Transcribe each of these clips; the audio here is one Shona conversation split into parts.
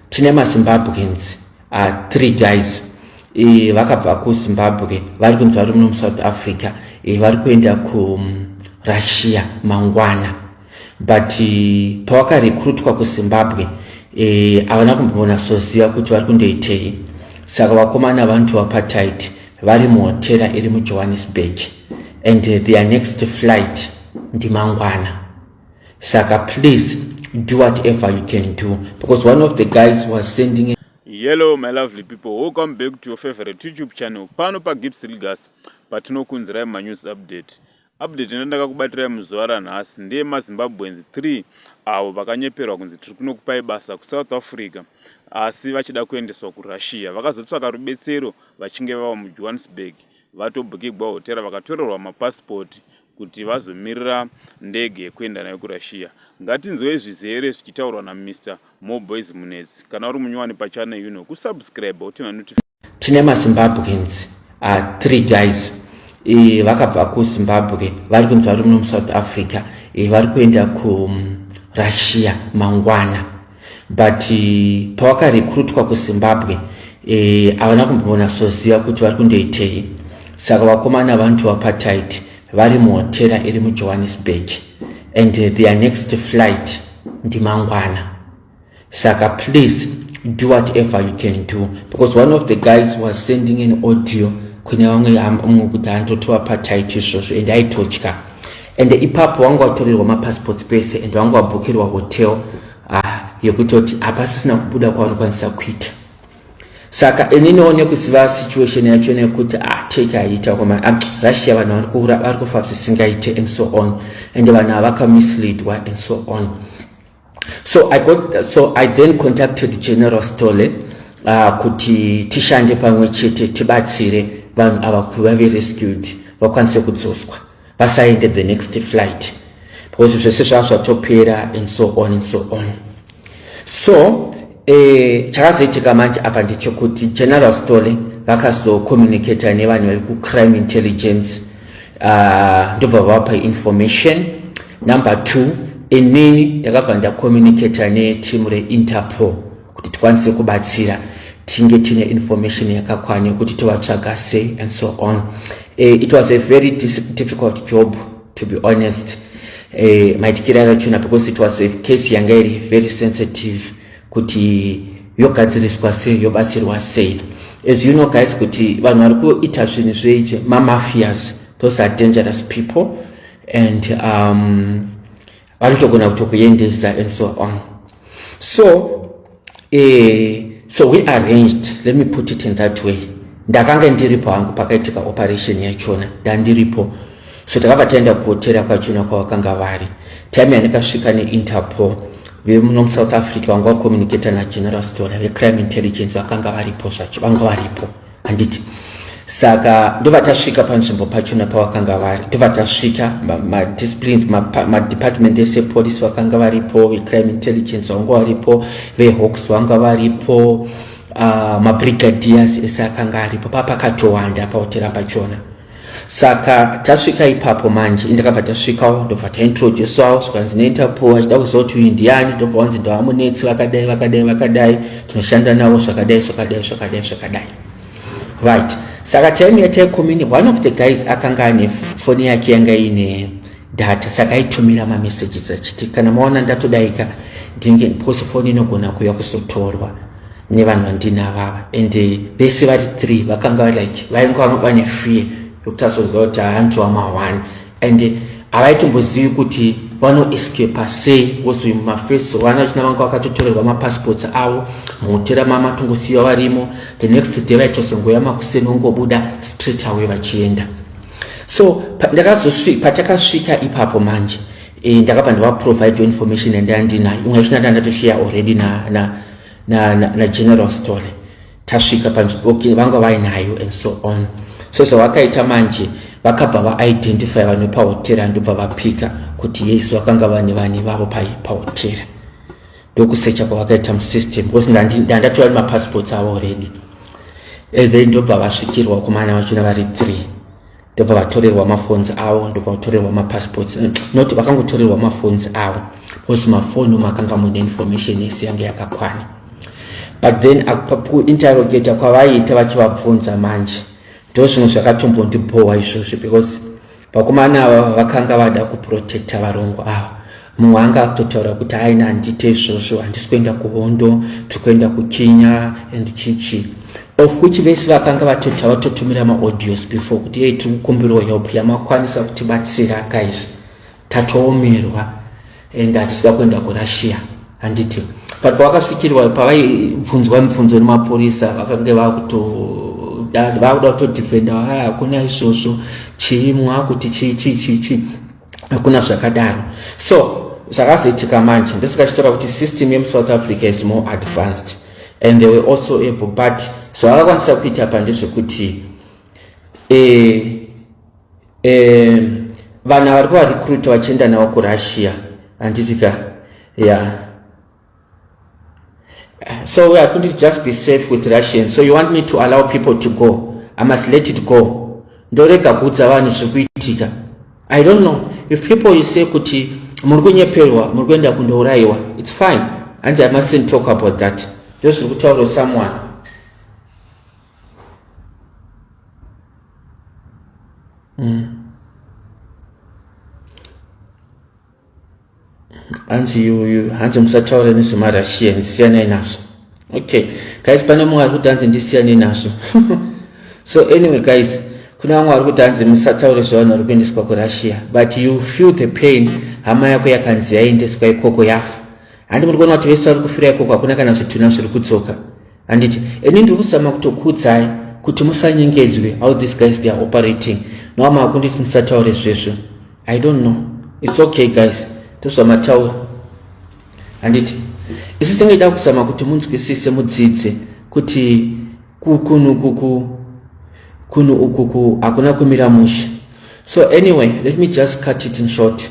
tine mazimbabweans uh, three guys e, vakabva kuzimbabwe vari kunzi vari muno musouth africa e, vari kuenda kurussia mm, mangwana but e, pavakarekrutwa kuzimbabwe e, havana kumboona soziva kuti vari kundoitei saka vakomana vanoti vapatight vari muhotera iri mujohannesburg and their next flight ndimangwana saka please do whatever you can do because one of the guys was sending yellow my lovely people welcome back to your favorite youtube channel pano pagips ligas patinokunzirai manews update update ina ndakakubatirai muzuva ranhasi ndeye mazimbabweans 3 avo vakanyeperwa kunzi tiri kunokupai basa kusouth africa asi vachida kuendeswa kurussia vakazotsvaka rubetsero vachinge vava mujohannesburg vatobhukigwa hotera vakatorerwa mapasipoti kuti vazomirira ndege yekuenda nayo kuRussia. Ngatinzwei zvizere zvichitaurwa na Mister More Boys Munetsi. Kana uri munyowani pa channel ino, ku subscribe wote ma notification. Tine ma Zimbabweans uh, three guys e, vakabva ku Zimbabwe vari kunzi vari muno mu South Africa e, vari kuenda ku mm, Russia mangwana. but eh, pawakarekrutwa kuzimbabwe eh, havana e, kumbonatsoziva kuti vari kundoitei saka vakomana vantu vapatit vari muhotera iri mujohannesburg and eh, their next flight ndimangwana saka please do whatever you can do because one of the guys was sending an audio kune vamwe mumwe kuti andotovapatit izvozvo and aitotya and ipapo wanga watorerwa mapassports pese and wanga wabhukirwa hotel ah, yekutoti hapasisina kubuda kwavanokwanisa kuita saka ini noone kuziva situation yacho nekuti ah, take haiita koma ah, russia vanhu vari kuura vari kufa zvisingaite and so on and vanhu havakamisleadwa and so on so i got so i then contacted general stole uh, kuti tishande pamwe chete tibatsire vanhu ava kuti vave rescued vakwanise kudzoswa vasaende the next flight because zvese zvava zvatopera and so on and so on so Eh, chakazoitika manje apa ndechekuti general stole vakazocommunicata nevanhu vari kucrime intelligence uh, ndobva vapa information number two inini ndakabva ndacommunicata neteam reinterpol kuti tikwanise kubatsira tinge tine information yakakwana yekuti tovatsvaga sei and so on uh, it was a very difficult job to be honest eh, maitikire akachuna because it was a case yanga iri very sensitive kuti yogadziriswa sei yobatsirwa sei as you know guys kuti vanhu vari kuita zvinhu zveizvi mamafias those are dangerous people and um, vanotogona kutokuendesa and so on so eh, so we arranged let me put it in that way ndakanga ndiripo hangu pakaitika operation yachona ndandiripo so takabva taenda kuhotera kwachona kwavakanga vari time yandikasvika neinterpol vemuno musouth africa vanga vacommunicata nageneral stone vecrime intelligence vakanga varipo zvacho vanga varipo handiti saka ndobva tasvika panzvimbo pachona pavakanga vari ndobva tasvika madisciplines madepartment ese police vakanga varipo vecrime intelligence vanga varipo vehawks vanga varipo ah, mabrigadiers ese akanga aripo papakatowanda pahotera pachona saka tasvika ipapo manje indakabva tasvikawo ndobva taintroducewawo zvikanzi neinterpol achida kuziva kuti uyu ndiyani ndobva wanzi ndovamunetsi vakadai vakadai vakadai tinoshanda navo zvakadai zvakadai zvakadai zvakadai right saka time yataikomini one of the guys akanga ane foni yake yanga ine data saka aitumira mamessages achiti kana maona ndatodaika ndinge because foni inogona kuuya kuzotorwa nevanhu vandina vava and eh, vese vari three vakanga like vainge vanoba nefear yekuti azoziva kuti hanzi wamahwani and eh, havaitombozivi kuti vanoescapa sei wozoyi mumafesi vana vachina vanga vakatotorerwa mapassports avo muhotera mamatongosiyiva varimo the next day vaitozongoya makuseni vongobuda straight away vachienda so patakasvika ipapo manje e, ndakabva ndavaprovide information yandanga ndinayo imwe yacho ndanga ndatoshaye already na, na, na, na, na general story tasvika panzvimbo okay, vanga vainayo and so on so zvavakaita manje vakabva vaidentify vanhu pahotera ndobva vapika kuti yes vakanga vane vane vavo pahotera ndokusecha kwavakaita musystem because ndandatora nemapassports avo already and then ndobva vasvikirwa kumana vachona vari three ndobva vatorerwa mafonzi avo ndobva vatorerwa mapassports eh, not vakangotorerwa mafonzi avo because mafoni omo akanga muine information yese yange yakakwana but then kuinterrogata kwavaiita vachivabvunza manje ndo zvimwe zvakatombondibhowa izvozvo because vakomana ava vakanga vada kuprotecta varongwa ava mumwe wanga akutotaura kuti aina handite izvozvo handisi kuenda kuhondo tiri kuenda kukinya and chichi of which vese vakanga vatota vatotumira maaudios before kuti yei tiri kukumbirawo help yamakwanisa kutibatsira guys tatoomerwa and hatisida kuenda kurussia handiti but pavakasvikirwa pavaibvunzwa mibvunzo nemapurisa vakange vakuto vakuda kutodefenda haa hakuna izvozvo chii mwakuti chii chii chii chii hakuna zvakadaro so zvakazoitika manje ndosikachitora kuti system yemusouth africa is more advanced and they were also able but zvavakakwanisa kuita pa ndezvekuti eh, eh, vana vari kuvarecruita vachienda navo kurussia handitika ya yeah. So I couldn't just be safe with Russians. So you want me to allow people to go? I must let it go. ndorega kuudza vanhu zviri kuitika i don't know if people you say kuti muri kunyeperwa muri kuenda kundourayiwa its fine hanzi i mustn't talk about that ndo zviri kutaura someone mm. hanzi yuyu hanzi musataura nezvemarussian siyanai nazvo okay guys pane mumwe ari kuti hanzi ndisiyanei nazvo so anyway guys kune vamwe vari kuti hanzi musataure zvevanhu vari kuendeswa kurussia but you feel the pain hama yako yakanzi yaendeswa ikoko yafa handi muri kuona kuti vese vari kufira ikoko hakuna kana zvitunha zviri kudzoka handiti ini ndiri kuzama kutokuudzai kuti musanyengedzwe how these guys they are operating nova maakunditi ndisataure zvizvo i don't know its okay guys tozvamataura handiti isu tingaida kuzama kuti munzwisise mudzidze kuti kunhu kuku kunhu ukuku hakuna kumira mushe so anyway let me just cut it in short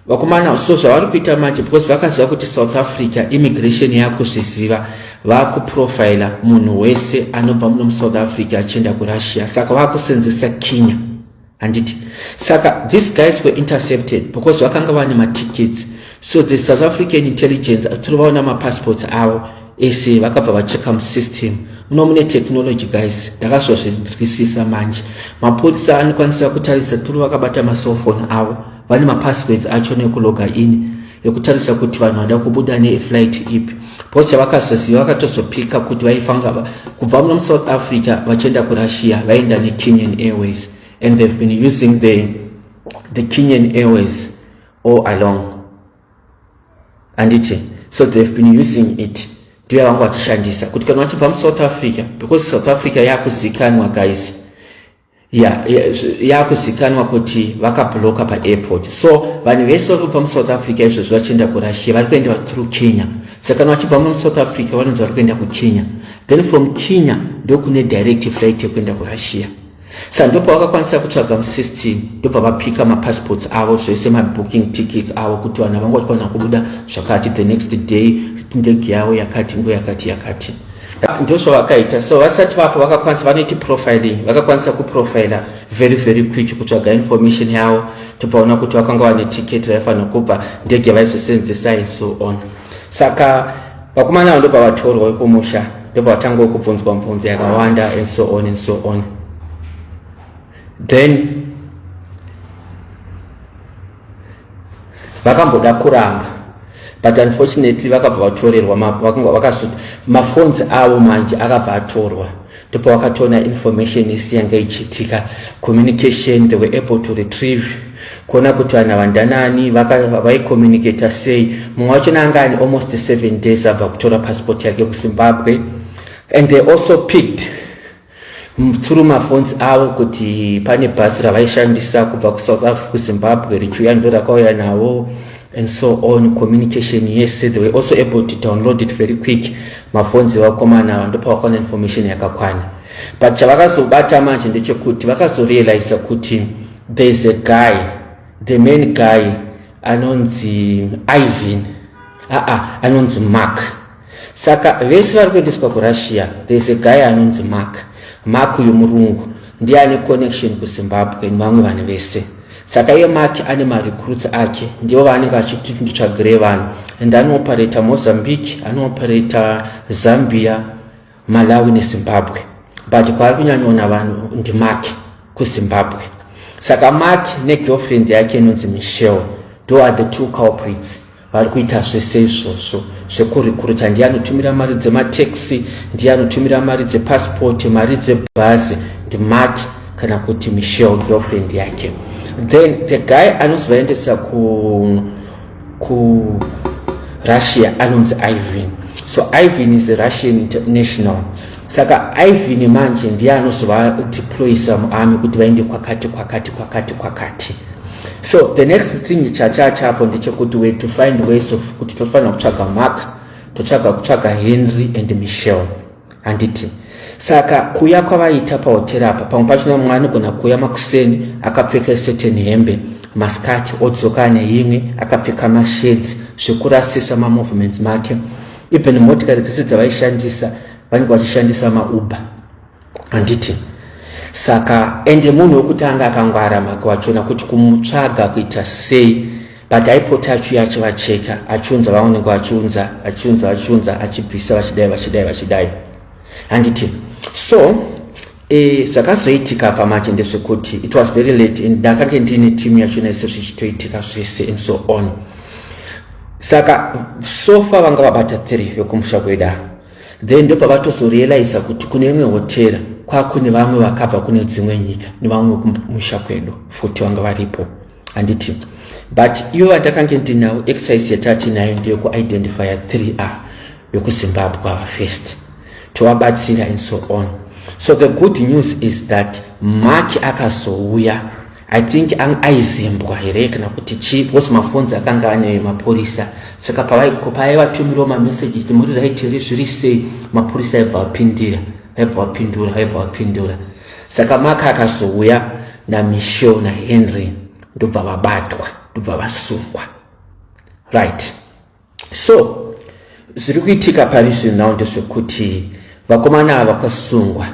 vakomana so zvavari kuita manje because vakaziva kuti south africa immigration yakuzviziva vakuprofila munhu wese anobva muno musouth africa achienda kurussia saka vakusenzesa kinya handiti saka these guys were intercepted because vakanga vane matickets so the south african intelligence atiri vaona mapassports avo ese vakabva vacheka musystem muno mune technology guys ndakazozvinzwisisa manje mapurisa anokwanisa kutarisa turi vakabata macellphone avo vane mapasswords acho nekuloga in yekutarisa kuti vanhu vada kubuda neflight ipi bcause yavakazoziva vakatozopika kuti vaifanga kubva muno musouth africa vachienda kurussia vaenda nekenyan airways and they've been using the, the kenyan airways all along anditi so they've been using it ndiyo yavanga vachishandisa kuti kana vachibva musouth africa because south africa yakuzikanwa guys yakuzikanwa ya, ya kuti vakabloka paairport so vanhu vese vari kubva musouth africa izvozvi vachienda kurussia vari kuenda through kenya saka kana vachibva musouth africa vanonzi vari kuenda kukenya then from kenya ndokune direct flight yekuenda kurussia sa ndopa vakakwanisa kutsvaga musystem ndobva vapika mapassports avo zvese mabooking tickets avo kuti vanhu havanga vachifanira kubuda zvakati the next day ndege yavo yakati ngo yakati yakati, yakati. ndozvavakaita so vasati vapo vakakwanisa vanoiti profiling vakakwanisa kuprofila very very quick kutsvaga information yavo tobvaona kuti vakanga vane ticket vaifanira kubva ndege vaizosenzesa in so on saka vakomana avo ndobva vatorwa vekumusha ndobva vatanga kubvunzwa mvunzo yakawanda and so on and so on then vakamboda kuramba but unfortunately vakabva vatorerwa vakasuta mafonzi avo manje akabva atorwa ndipo vakatoona information isi yanga ichiitika communication they were able to retrieve kuona kuti vanhu vandanani vaicommunicata sei mumwe wacho naanga ani almost seven days abva kutora passport yake kuzimbabwe and they also picked through maphones avo kuti pane bhasi ravaishandisa kubva kusouth africa kuzimbabwe richiuya ndo rakauya navo and so on communication yese they were also able to download it very quick maphones evakomana ava ndopavakaona information yakakwana but chavakazobata manje ndechekuti vakazorealiza kuti there is a guy the main guy anonzi ivan aa anonzi mark saka vese vari kuendeswa kurussia there's a guy anonzi mark mark uyu murungu ndiye ane connection kuzimbabwe nevamwe vanhu vese saka iye mark ane marecruits ake ndivo vaanenge achiti nditsvagirei vanhu and anooperata mozambique anooperata zambia malawi nezimbabwe but kwaari kunyanyoona vanhu ndimark kuzimbabwe saka mark negirlfriend yake inonzi michelle do are the two culprits vari kuita zvese izvozvo zvekurikuruta ndiye anotumira mari dzemateksi ndiye anotumira mari dzepasipoti mari dzebhazi ndimak kana kuti michelle girlfriend yake then the guy anozovaendesa ku ku russia anonzi ivin so ivin is a russian international saka ivin manje ndiye anozovadeployisa muarmy kuti vaende kwakati kwakati kwakati kwakati so the next thing chachacha apo ndechekuti we to find ways of kuti tofanira kutsvaga mark totsvaga kutsvaga henry and michelle handiti saka kuya kwavaita pahoteri apa pamwe pachona mumwe anogona kuya makuseni akapfeka iseteni hembe masikati odzoka neimwe akapfeka mashedzi zvekurasisa mamovements make even motikari dzese dzavaishandisa vanenge vachishandisa mauber handiti saka ende munhu wekutanga akangwara mhaka wachona kuti kumutsvaga kuita sei but aipota achiuya achivacheka achiunza vaonenge vachiunza achiunza vachiunza achibvisa vachidai vachidai vachidai handiti so e, zvakazoitika pamanje ndezvekuti it was very late and ndakange ndiine timu yachona ise zvichitoitika zvese and so on saka sofa vanga vabata tiri vekumusha kweda then ndopavatozorealiza kuti kune imwe hotera kwakune vamwe vakabva kune dzimwe nyika nevamwe kumusha kwedu futi vanga varipo handiti but ivo vandakange ndinawo exercise yatatiinayo ndeyekuidentifya 3 a vekuzimbabwe ava first tovabatsira and so on so the good news is that maki akazouya i think aizimbwa here kana kuti chii because mafonzi akanga ane mapurisa saka pavaivatumirawo mamesages ti muri right here zviri sei mapurisa aibva vapindira aibva vapindura aibva vapindura saka maka akazouya namichel nahenry ndobva vabatwa ndobva vasungwa right So zviri kuitika pari zvino now ndezvekuti vakomana ava vakasungwa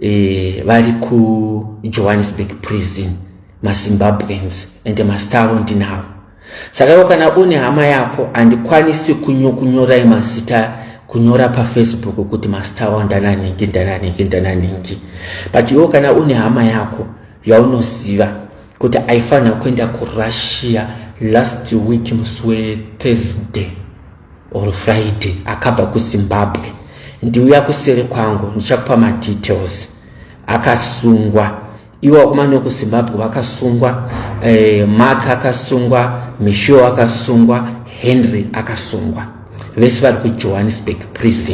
e, vari kujohannesburg prison mazimbabweans and mastar avo ndinavo saka iwo kana une hama yako handikwanisi kunyokunyorai mazita kunyora pafacebook kuti mastar avo ndananhingi ndananhingi ndananhingi but iwo kana une hama yako yaunoziva kuti aifanira kuenda kurussia last week musi wethursday or friday akabva kuzimbabwe ndiuya kusere kwangu ndichakupa madetails akasungwa iwo vakomana vekuzimbabwe vakasungwa eh, mark akasungwa misho akasungwa henry akasungwa vese vari kujohannesburg prison